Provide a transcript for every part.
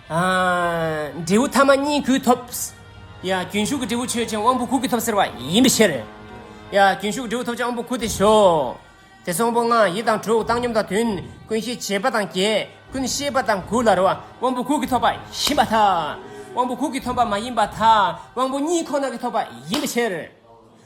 འབྲས་བུ་ཐ་མ་གཉིས་གུས་ཐོབ། རྒྱུན་ཞུགས་ཀྱི་འབྲས་བུ་ཆོས་ཅན་དབང་པོ་དགུ་གུས་ཐོབ་ཟེར་བ་ཡིན་པའི་ཕྱིར། རྒྱུན་ཞུགས་ཀྱི་འབྲས་བུ་ཐོབ་བྱ་དབང་པོ་དགུ་སྟེ་ཞོག། དེ་སོགས་དབང་པོ་ལྔ་ཡིད་དང་དྲུག་བཏང་སྙོམས་དང་དོན་ཀུན་ཤེས་བྱེད་པ་དང་བརྒྱད་ཀུན་ཤེས་པ་དང་དགུ་ལ་རོ། དབང་པོ་དགུ་གིས་ཐོབ་པ་ཡིན་པ་དག་དབང་པོ་དགུ་གིས་ཐོབ་པ་མ་ཡིན་པ་དག་དབང་པོ་གཉིས་ཁོ་ན་གིས་ཐོབ་པ་ཡིན་པའི་ཕྱིར།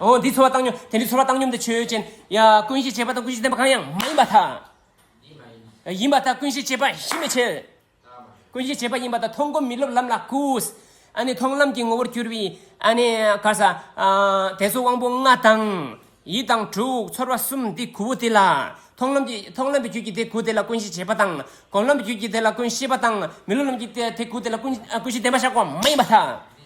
འོ་འདི་ཚོར་བ་བཏང་སྙོམས་དེ་འདྲའི་ཚོར་བ་བཏང་སྙོམས་དེ་ཆོས་ཅན། ཡ། ཀུན་ཤེས་བྱེད་པ་དང་ཀུན་ཤེས་བསྟན་པ་གང་ཡང་མ་ཡིན་པ་དག། ཡིན་པ་དག་ཀུན་ཤེས་བྱེད་པ་གཞི་མེད་ཕྱིར། ཀུན་ཤེས་བྱེད་པ་ཡིན་པ་དག་མཐོང་སྒོམ་མི་སློབ་ལམ་ལ་བསྐུས། ཨ་ནི་མཐོང་ལམ་གྱི་ངོ་བོར་གྱུར་པའི། ཨ་ནི། ཁར་ས། དེ་ཚོ་དབང་པོ་ལྔ་དང། ཡིད་དང་དྲུག་ཚོར་བ་གསུམ་དེ་གུ་བོ་དེ་ལ། མཐོང་ལམ་གྱི་མཐོང་ལམ་པའི་རྒྱུད་ཀྱི་དེ་གུ་དེ་ལ་ཀུན་ཤེས་བྱེད་པ་དང། སྒོམ་ལམ་པའི་རྒྱུད་ཀྱི་དེ་ལ་ཀུན་ཤེས་པ་དང་མི་སློབ་ལམ་གྱི་དེ་གུ་དེ་ལ་ཀུན་ཤེས་བསྟན་པ་བཞག་པ་མ་ཡིན་པ་དག།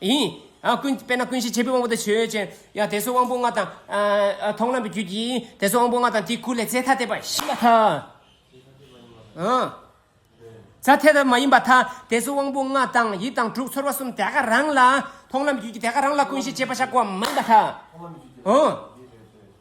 ཡིན། ཀུན། དཔེར་ན་ཀུན་གཞི་བྱེད་པའི་དབང་པོ་དང་ཆོས་ཅན། ཡང་དེ་སོགས་དབང་པོ་ལྔ་དང། མཐོང་ལམ་གྱི་རྒྱུད་ཀྱིས། དེ་སོགས་དབང་པོ་ལྔ་དང་དེའི་སྐུ་ལས་རྫས་ཐ་དད་པ་ཞི་བ་ཐ། རྫས་ཐ་དད་པ་མ་ཡིན་པ་ཐ། དེ་སོགས་དབང་པོ་ལྔ་དང་ཡིད་དང་དྲུག་ཚོར་བ་གསུམ་དེ་ག་རང་ལ། མཐོང་ལམ་གྱི་རྒྱུད་ཀྱིས་དེ་ག་རང་ལ་ཀུན་གཞི་བྱེད་པ་བཞག་པ་མ་ཡིན་པ་ཐ།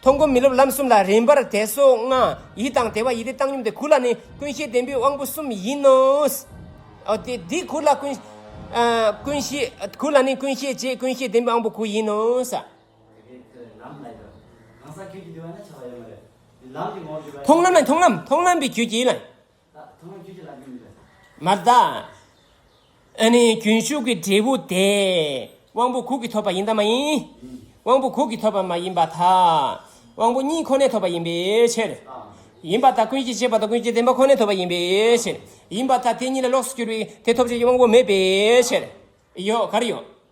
མཐོང་སྒོམ་མི་སློབ་ལམ་གསུམ་ལ་རིམ་པར་དད་སོགས་ལྔ། ཡིད་དང་དད་པ་ཡིད་བདེ་བཏང་སྙོམས་དེ་གུར་ལ་ནི་ཀུན་གཞིའི་བདེན་པའི་དབང་པོ་གསུམ་ཡིན་ནོ། དེ་གུར་ལ་ཀུན། ཀུན་གཞི། གུར་ལ་ནི་ཀུན་གཞིའི་རྗེས་ཀུན་གཞིའི་བདེན་པའི་དབང་པོ་དགུ་ཡིན་ནོ། མཐོང་ལམ་ལ་མཐོང་ལམ་མཐོང་ལམ་གྱི་རྒྱུད་ཀྱིས། མ་བརྟགས། ཨ་ནི་རྒྱུན་ཞུགས་ཀྱི་འབྲས་བུ་དེ་དབང་པོ་གུག་གིས་ཐོབ་པ་ཡིན་དམ་མ་ཡིན། དབང་པོ་གུག་གིས་ཐོབ་པ་མ་ཡིན་པ་དག་དབང་པོ་གཉིས་ཁོ་ནས་ཐོབ་པ་ཡིན་པའི་ཕྱིར། ཡིན་པ་དག་ཀུན་གྱིས་བྱས་པ་དང་ཀུན་གྱིས་བདེན་པ་ཁོ་ནས་ཐོབ་པ་ཡིན་པའི་ཕྱིར། ཡིན་པ་དག་དེ་གཉིས་ལ་ལོགས་སུ་གྱུར་པའི་དེ་ཐོབ་བྱེད་ཀྱི་དབང་པོ་མེད་པའི་ཕྱིར། ཡོད་ག་རེ་ཡོད།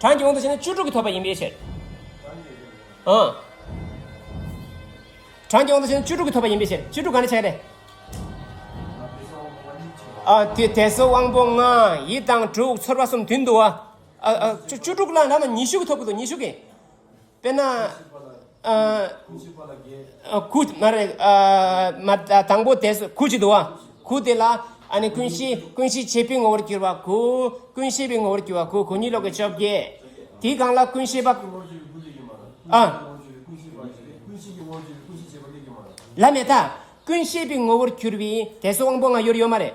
གྲངས་ཀྱི་དབང་དུ་བྱས་ན་བཅུ་དྲུག་གིས་ཐོབ་པ་ཡིན་པའི་ཕྱིར། ཨང། གྲངས་ཀྱི་དབང་དུ་བྱས་ན་བཅུ་དྲུག་གིས་ཐོབ་པ་ཡིན་པའི་ཕྱིར་བཅུ་དྲུག་གང་ནས་བྱས་ཏེ། ཨ་དེ་དེ་སོ་དབང་པོ་ལྔ་ཡི་དང་དྲུག་ཚོར་བ་གསུམ་དུས་འདུ་བ། ཨ་ཨ་བཅུ་དྲུག་ལ་ལ་ན་ཉི་ཤུ་གིས་ཐོབ་ཀྱི་འདུག་ཉི་ཤུ་གིས། དཔེར་ན། ཁུ། མ་རེད། མ། དང་པོ་དེ། ཁུ་ཅིག་འདུག་བ། ཁུ་དེ་ལ། ཀུན་གཞི། ཀུན་གཞི་ཕྱེད་པའི་ངོ་བོར་གྱུར་བ། ཁུ། ཀུན་ཤེས་པའི་ངོ་བོར་གྱུར་བ། ཁུ། གོ་གཉིས་ལོག་གི་བཅོ་བརྒྱད། དེའི་གང་ལ་ཀུན་ཤེས་པ། ལ་མེ་ད། ཀུན་ཤེས་པའི་ངོ་བོར་གྱུར་བའི། དེ་སོགས་དབང་པོ་ལྔ་ཡོད་རེད་ཡོད་མ་རེད།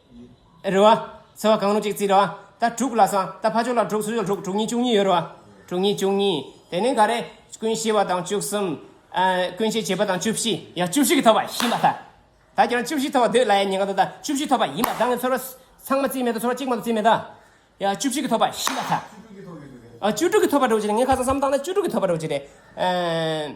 རེད་བ། ཚེ་བ་གང་རུང་གཅིག་རྩིས་རེད་བ། ད་དྲུག་ལ་སོང་ད་ཕ་ཆོག་ལ་དྲུག་སུ་ཡོད་དྲུག་དྲུག་གཉིས་བཅུ་གཉིས་ཡོད་རེད་བ། དྲུག་གཉིས་བཅུ་གཉིས་དེ་ནས་ག་རེ། ཀུན་ཤེས་པ་དང་བཅུ་གསུམ། ཀུན་ཤེས་བྱེད་པ་དང་བཅུ་བཞི་ཡ་བཅུ་བཞི་གི་ཐོབ་པ་ཤིན་པ་ད། ད་ཁྱོད་རང་བཅུ་བཞི་ཐོབ་པ་འདོད་ལ་ཡ་ཉེ་ག་ད་ད་བཅུ་བཞི་ཐོབ་པ་ཡིན་པ་ད་ངས་ཚོར་བ། ཚང་མ་རྩིས་མེད་ད་ཚོར་བ་གཅིག་མ་གཏོགས་རྩིས་མེད་ད། ཡ་བཅུ་བཞི་གི་ཐོབ་པ་ཤིན་པ་ད། བཅུ་དྲུག་གི་ཐོབ་ཡོད་རེད་བ། བཅུ་དྲུག་གི་ཐོབ་པ་འགྲོ་བྱེད་རེད་ངས་ཁ་སང་བསམ་བཏང་ན་བཅུ་དྲུག་གི་ཐོབ་པ་འགྲོ་བྱེད་རེད།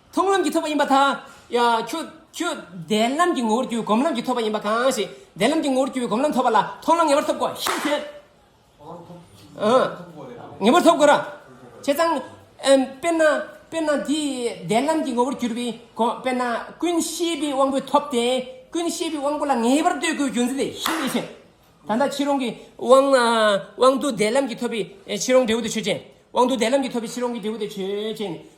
མཐོང་ལམ་གྱི་ཐོབ་པ་ཡིན་པ་དང། ཁྱོད་བདེ་ལམ་གྱི་ངོ་བོར་གྱུར་པའི་སྒོམ་ལམ་གྱི་ཐོབ་པ་ཡིན་པ་གང་ཞིག་བདེ་ལམ་གྱི་ངོ་བོར་གྱུར་པའི་སྒོམ་ལམ་ཐོབ་པ་ལ་མཐོང་ལམ་ངེས་པར་ཐོབ་གོ་ཞེས་ཐོས། ངེས་པར་ཐོབ་གོ། བྱས་ཙང། དཔེར་ན། དཔེར་ན་འདི་བདེ་ལམ་གྱི་ངོ་བོར་གྱུར་པའི་སྒོམ་དཔེར་ན་ཀུན་ཤེས་པའི་དབང་པོས་ཐོབ་སྟེ། ཀུན་ཤེས་པའི་དབང་པོ་ལ་ངེས་པར་ལྟོས་དགོས་རྒྱུ་མཚན་དེ་ཤེས་པས་ཤེས། ད་ལྟ་ཕྱིར་འོང་གི་དབང་དུ་བདེ་ལམ་གྱི་ཐོབ་པའི་ཕྱིར་འོང་འབྲས་བུ་དེ་ཆོས་ཅན། དབང་དུ་བདེ་ལམ་གྱི་ཐོབ་པའི་ཕྱིར་འོང་གི་འབྲས་བུ་དེ་ཆོས་ཅན།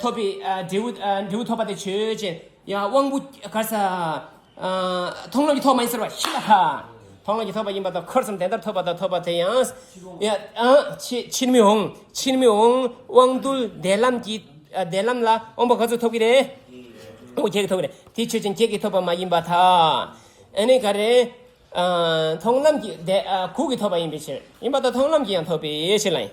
ཐོབ་པའི་འབྲས་བུ་འབྲས་བུ་ཐོབ་པ་དེ་ཆོས་ཅན། ཡང་དབང་པོ་ག་ས། མཐོང་ལམ་གྱི་ཐོག་མ་ཡིན་ཟེར་བ་ཤི་ལ་ཧ། མཐོང་ལམ་གྱི་ཐོབ་པ་ཡིན་པ་དང་འཁོར་གསུམ་དེ་ལྟར་ཐོབ་པ་དང་ཐོབ་པ་དེ་ཡང། ཕྱིར་མི་འོང་ཕྱིར་མི་འོང་དབང་རྟུལ་བདེ་ལམ་གྱི་བདེ་ལམ་ལ་དབང་པོ་ག་ཚོད་ཐོབ་ཀྱི་རེད། དབང་པོ་བརྒྱད་ཀྱི་ཐོབ་ཀྱི་རེད་དེ་ཆོས་ཅན་བརྒྱད་ཀྱི་ཐོབ་པ་མ་ཡིན་པ་དང། ཨ་ནི་ག་རེད། མཐོང་ལམ་གྱི་གུག་གི་ཐོབ་པ་ཡིན་པའི་ཕྱིར། ཡིན་པ་དང་མཐོང་ལམ་གྱི་ཡང་ཐོབ་པའི་ཕྱིར་ལ་ཡིན།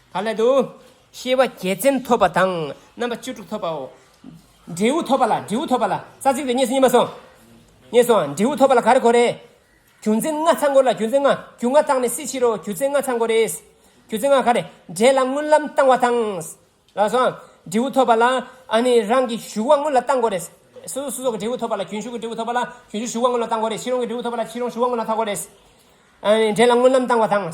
དག་སླད་དུ། ཤེས་པ་བརྒྱད་ཚན་ཐོབ་པ་དང་རྣམ་པ་བཅུ་དྲུག་ཐོབ་པའོ། འབྲས་བུ་ཐོབ་པ་ལ་འབྲས་བུ་ཐོབ་པ་ལ་རྩ་ཚིག་ཏུ་གཉིས་སུ་གཉིས་མ་སོང། གཉིས་སུའང་འབྲས་བུ་ཐོབ་པ་ལ་ག་རེ་གོ་རེ། རྒྱུ་མཚན་ལྔ་ཚང་གོ་ལ་རྒྱུ་མཚན་ལྔ་རྒྱུ་ལྔ་བཏང་ནས་སྲིད་ཕྱིར་རོ་རྒྱུ་མཚན་ལྔ་ཚང་གོ་རེ། རྒྱུ་མཚན་ལྔ་ག་རེ་འབྲས་ལ་སྔོན་ལམ་བཏང་བ་དང། ལ་སོང། འབྲས་བུ་ཐོབ་པ་ལ་ཨ་ནི་རང་གི་ཞུགས་བ་སྔོན་ལ་བཏང་གོ་རེ། སོ་སོ་སོགས་ཀྱི་འབྲས་བུ་ཐོབ་པ་ལ་རྒྱུན་ཞུགས་ཀྱི་འབྲས་བུ་ཐོབ་པ་ལ་རྒྱུན་ཞུགས་ཞུགས་བ་སྔོན་ལ་བཏང་གོ་རེ་ཕྱི་རོལ་གྱི་འབྲས་བུ་ཐོབ་པ་ལ་ཕྱི་རོལ་ཞུགས་བ་སྔོན་ལ་ཐག་གོ་རེ། འབྲས་ལ་སྔོན་ལམ་བཏང་བ་དང།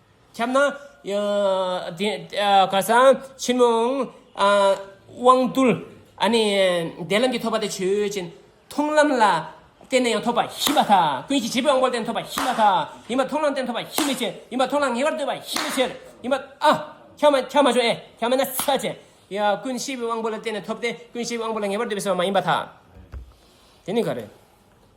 ཁྱབ་ན། གང་ཟག་ཕྱི་མོ་དབང་རྟུལ། འདས་ལམ་གྱི་ཐོབ་པ་དེ་ཆོས་ཅན། མཐོང་ལམ་ལ་བརྟེན་ནས་ཡང་ཐོབ་པ་ཞི་བ་དང། ཀུན་གཞི་བྱེད་པོའི་དབང་པོ་ལ་བརྟེན་ཐོབ་པ་ཞི་བ་དང། ཡིན་པ་མཐོང་ལམ་བརྟེན་ཐོབ་པ་ཞི་མི་ཕྱིར། ཡིན་པ་མཐོང་ལམ་ངེས་པར་འདོད་པ་ཞི་མི་ཕྱིར། ཡིན་པ། ཁྱབ་མ་ཁྱབ་མ་བྱུང་ཨེ། ཁྱབ་མེད་ན་ཚད་ཅན། ཀུན་གཞི་བའི་དབང་པོ་ལ་བརྟེན་ནས་ཐོབ་སྟེ་ཀུན་གཞི་བའི་དབང་པོ་ལ་ངེས་པར་འདོད་པའི་སེམས་མ་ཡིན་པ་དང། དེ་ནི་ག་རེ།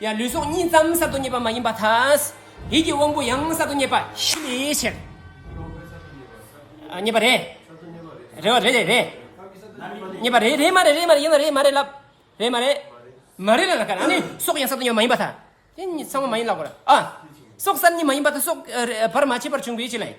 ཡང་ལུས་སྲོག་གཉིས་ཙམ་གསར་དུ་རྙེད་པ་མ་ཡིན་པ་དང། ཡིད་ཀྱི་དབང་པོ་ཡང་གསར་དུ་རྙེད་པ་བཞི་ལས་ཕྱིར། རྙེད་པ་རེད། རེད་བ་རེད་རེད་རེད། རྙེད་པ་རེད་རེད་མ་རེད་རེད་མ་རེད་ཡིན་ན་རེད་མ་རེད་ལབ། རེད་མ་རེད། མ་རེད་ལ་ལ་ཀ་ཨ་ནི་སྲོག་ཡང་གསར་དུ་རྙེད་པ་མ་ཡིན་པ་དང། དེ་གཉིས་ཚང་མ་མ་ཡིན་ལ་གོ་ར་ཨ། སྲོག་གསར་གཉིས་མ་ཡིན་པ་དང་སྲོག་བར་མ་ཆད་པར་བྱུང་བའི་ཕྱིར་ལ་ཡིན།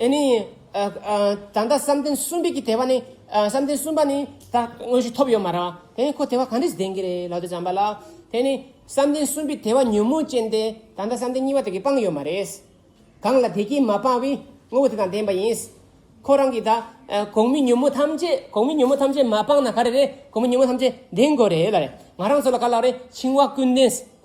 ད་ལྟ་བསམ་གཏན་གསུམ་པའི་དེ་བ་ནི། བསམ་གཏན་གསུམ་པ་ནི་ད་དངོས་གཞི་ཐོབ་ཡོད་མ་རང། དེ་ནི་ཁོ་དེ་བ་གང་འདྲས་སུ་ལྡན་གྱི་རེད་ལགས་ཏེ་བྱམས་པ་ལགས། དེ་ནི་བསམ་གཏན་གསུམ་པའི་དེ་བ་ཉོན་མོངས་ཅན་དེ་ད་ལྟ་བསམ་གཏན་གཉིས་པ་དེ་གིས་སྤངས་ཡོད་མ་རེད། གང་ལ་དེ་སྐྱེས་མ་སྤངས་བའི་དངོས་པོ་དེ་དང་ལྡན་པ་ཡིན། ཁོ་རང་གིས་ད་གོང་མའི་ཉོན་མོངས་ཐམས་ཅད་གོང་མའི་ཉོན་མོངས་ཐམས་ཅད་མ་སྤངས་ན་ག་རེ་རེད་གོང་མའི་ཉོན་མོངས་ཐམས་ཅད་ལྡན་དགོས་རེད་ལ་རེད། ང་རང་ཚོ་ལ་ག་ལ་རེད་འཆིང་བ་ཀུན་ལྡན།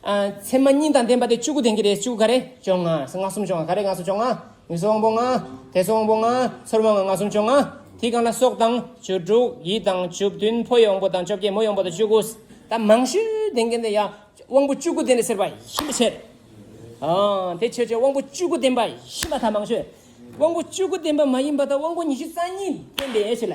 མཚན་མ་གཉིས་དང་ལྡན་པ་སྟེ་བཅུ་དགུ་ལྡན་གྱི་རེས་བཅུ་ག་རེ་བྱུང་ང་སང་ང་གསུམ་བྱུང་ང་ག་རེ་ང་སོ་བྱུང་ང་ངུ་སོ་དབང་པོ་ང་དད་སོ་དབང་པོ་ང་ཚོར་བ་ང་ང་གསུམ་བྱུང་ང་དེ་གང་ལ་སོགས་དང་བཅུ་དྲུག་ཡིད་དང་བཅུ་བདུན་ཕོ་ཡི་དབང་པོ་དང་བཅོ་བརྒྱད་མོ་ཡི་དབང་པོ་དང་བཅུ་དགུ་དང་མང་ཤོས་ལྡན་གྱི་འདི་ཡང་དབང་པོ་བཅུ་དགུ་ལྡན་རེ་ཟེར་བ་ཤིན་ཏུ་ཆེར་འང་དེ་ཆོས་ཅན་དབང་པོ་བཅུ་དགུ་ལྡན་པ་ཡིན་པ་དང་མང་ཤོས་དབང་པོ་བཅུ་དགུ་ལྡན་པ་མ་ཡིན་པ་དང་དབང་པོ་ཉི་ཤུ་རྩ་གཉིས་ལྡན་པའི་ཡེ་ཤེས་ལ་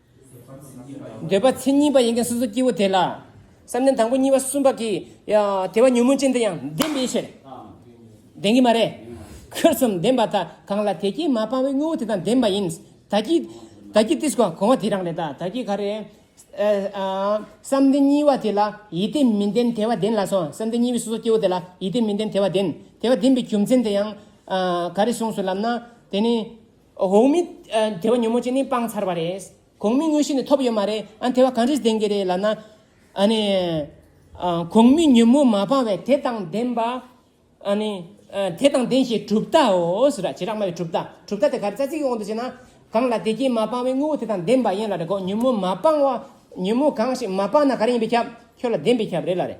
འདོད་པ་མཚན་ཉིད་པ་ཡིན་མཁན་སོ་སོ་སྐྱེ་བོ་དེ་ལ། བསམ་གཏན་དང་པོ་གཉིས་པ་གསུམ་པ་གྱི། དེ་བ་ཉོན་མོངས་ཅན་དེ་ཡང་བདེན་པའི་ཕྱིར། བདེན་གྱི་མ་རེད། ཁྱོད་གསུམ་བདེན་པ་དག་གང་ལ་དེ་སྐྱེས་མ་སྤངས་བའི་དངོས་བོ་དེ་དང་བདེན་པ་ཡིན། ད་ཀྱི། ད་ཀྱི་ཏིས་གོང་བ་དེ་རང་རེད་ད་ཀྱི་ག་རེ། བསམ་གཏན་གཉིས་བ་དེ་ལ་ཡིད་དེ་མི་བདེན་དེ་བ་བདེན་ལགས་སོ་བསམ་གཏན་གཉིས་པའི་སོ་སོ་སྐྱེ་བོ་དེ་ལ་ཡིད་དེ་མི་བདེན་དེ་བ་བདེན། དེ་བ་བདེན་པའི་རྒྱུ་མཚན་དེ་ཡང། ག་རེ་གསུངས་སོ་ལབ་ན་དེ་ནི། གོང་མའི་དེ་བ་ཉོན་མོངས་ཅན་ནི་སྤངས་ཚར་བ་རེད། གོང་མའི་དངོས་གཞི་ནི་ཐོབ་ཡོད་མ་རེད་ཨ། དེ་བ་གང་རིགས་ལྡན་གྱི་རེད་ལབ་ན། ཨ་ནི། གོང་མའི་ཉོན་མོངས་མ་སྤངས་བས་དེ་དང་ལྡན་པ། ཨ་ནི། དེ་དང་ལྡན་ཞེས་གྲུབ་མཐའོ། ར་བྱེ་བྲག་སྨྲ་བའི་གྲུབ་མཐའ། གྲུབ་མཐའ་དེ་ག་རེ་རྩ་ཚིག་གི་དབང་དུ་བྱས་ན། གང་ལ་དེ་རྐྱེན་མ་སྤངས་བའི་དངོས་པོ་དེ་དང་ལྡན་པ་ཡན་ལ་རེ་གོ། ཉོན་མོངས་མ་སྤངས་བ། ཉོན་མོངས་གང་ཞིག་མ་སྤངས་ན་ག་རེ་ཡིན་པའི་ཁྱབ། ཁྱོད་ལ་ལྡན་པའི་ཁྱབ་རེད་ལ་རེད།